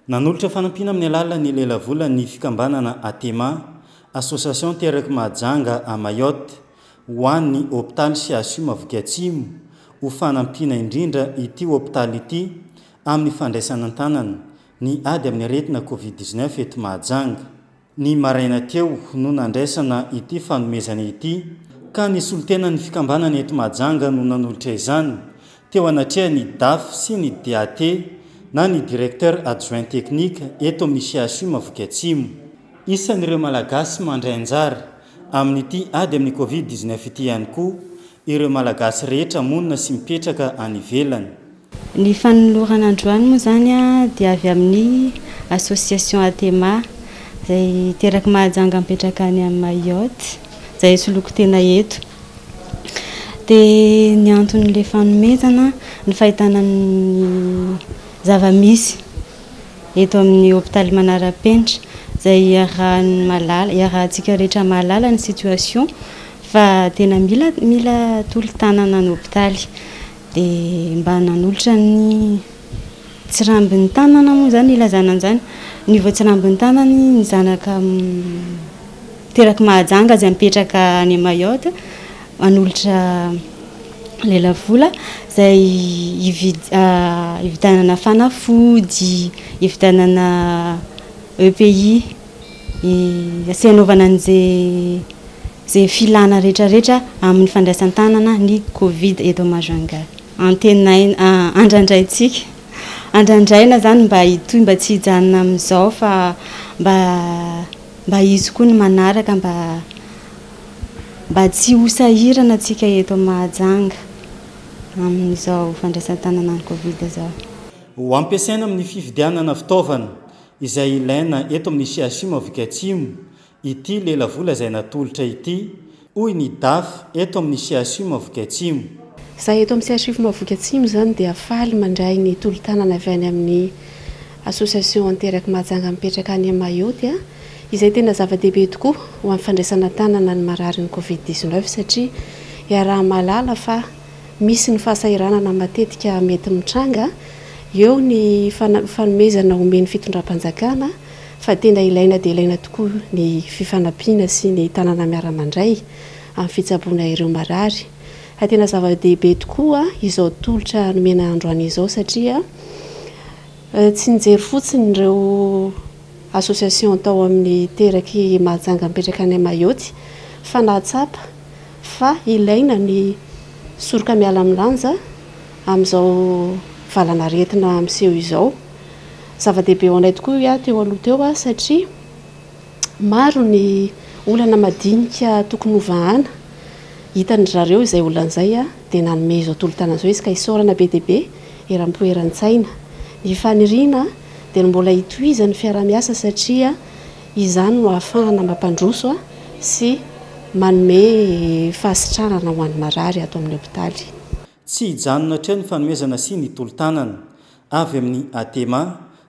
Nanolotra fanampiana amin'ny alalan'ny lelavola ny fikambanana Atema, Association Terek Mahajanga à Mayotte, ho an'ny hopitaly CHU Mahaviky Atsimo, ho fanampiana indrindra ity hopitaly ity amin'ny fandraisana an-tanana ny ady amin'ny aretina Covid dix-neuf eto Mahajanga. ny maraina teo no nandraisana ity fanomezana ity ka ny solontenan'ny fikambanana eto Mahajanga no nanolotra izany teo anatrehan'ny Daf sy ny DAT na ny Directeur Adjoint Technique eto amin'ny CHU Maviky Atsimo. Isan'ireo Malagasy mandray anjara Amin'ity ady amin'ny Covid dix neuf ity ihany koa ireo Malagasy rehetra monina sy mipetraka any ivelany. Ny fanolorana androany moa izany dia avy amin'ny Association Atema izay terak'i Mahajanga mipetraka any Mayotte izay hisoloako tena eto. Dia ny anton'ilay fanomezana, ny fahitana ny zava-misy. eto amin'ny hopitaly manara-penitra izay iarahan'ny mahalala, iarahantsika rehetra mahalala ny situation fa tena mila mila tolo-tanana ny hopitaly. Dia mba nanolotra ny tsirambin'ny tanana moa izany ilazana an'izany. Ny voatsirambin'ny tanany ny zanaka mm, terak'i Mahajanga izay mipetraka any Mayotte. hanolotra lelavola izay hividianana fanafody, hividianana EPI, sy hanaovana an'izay filana rehetrarehetra amin'ny fandraisan-tanana ny covid eto Majunga. Antenaina, andrandraintsika, andrandraina izany mba hitohy, mba tsy hijanona amin'izao fa mba hisy koa ny manaraka mba. mba tsy ho sahirana antsika eto Mahajanga amin'izao fandraisan-tanana ny Covid izao. Ho ampiasaina amin'ny fividianana fitaovana izay ilaina eto amin'ny CHU Maviky Atsimo ity lelavola izay natolotra ity, hoy ny Daf eto amin'ny CHU Maviky Atsimo. Izahay eto amin'ny CHU Maviky Atsimo izany dia faly mandray ny tolo-tanana avy any amin'ny Association Anteraky Mahajanga mipetraka any Mayotte, izay tena zava-dehibe tokoa ho amin'ny fandraisana an-tanana ny mararin'ny Covid dix neuf satria iaraha-mahalala fa misy ny fahasahiranana matetika mety mitranga, eo ny fanomezana omen'ny fitondram-panjakana fa tena ilaina dia ilaina tokoa ny fifanampiana sy ny tanana miara-mandray amin'ny fitsaboana ireo marary fa tena zava-dehibe tokoa izao tolotra nomena androany izao satria Tsy nijery fotsiny ireo association tao amin'ny teraky Mahajanga mipetraka any Mayotte fa nahatsapa fa ilaina ny soroka miala amin'ny lanja amin'izao valanaretina miseho izao. Zava-dehibe ho anay tokoa io ahy teo aloha teo satria. Maro ny olana madinika tokony ho vahana. Hitan-dry zareo izay olana izay dia nanome izao tolo-tanana izao izy ka isaorana be dia be eram-po eran-tsaina. Ny faniriana dia ny mbola hitohizan'ny fiaraha-miasa satria izany no ahafahana mampandroso sy manome fahasitranana ho an'ny marary ato amin'ny hopitaly. Tsy hijanona hatreo ny fanomezana sy ny tolo-tanana avy amin'ny Atema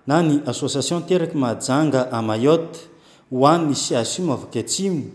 na ny Association Teraky Mahajanga à Mayotte ho an' ny CHUM Afrika Atsimo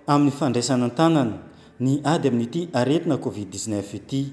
amin' ny fandraisana an-tanana ny ady amin' ity aretina Covid dix-neuf ity.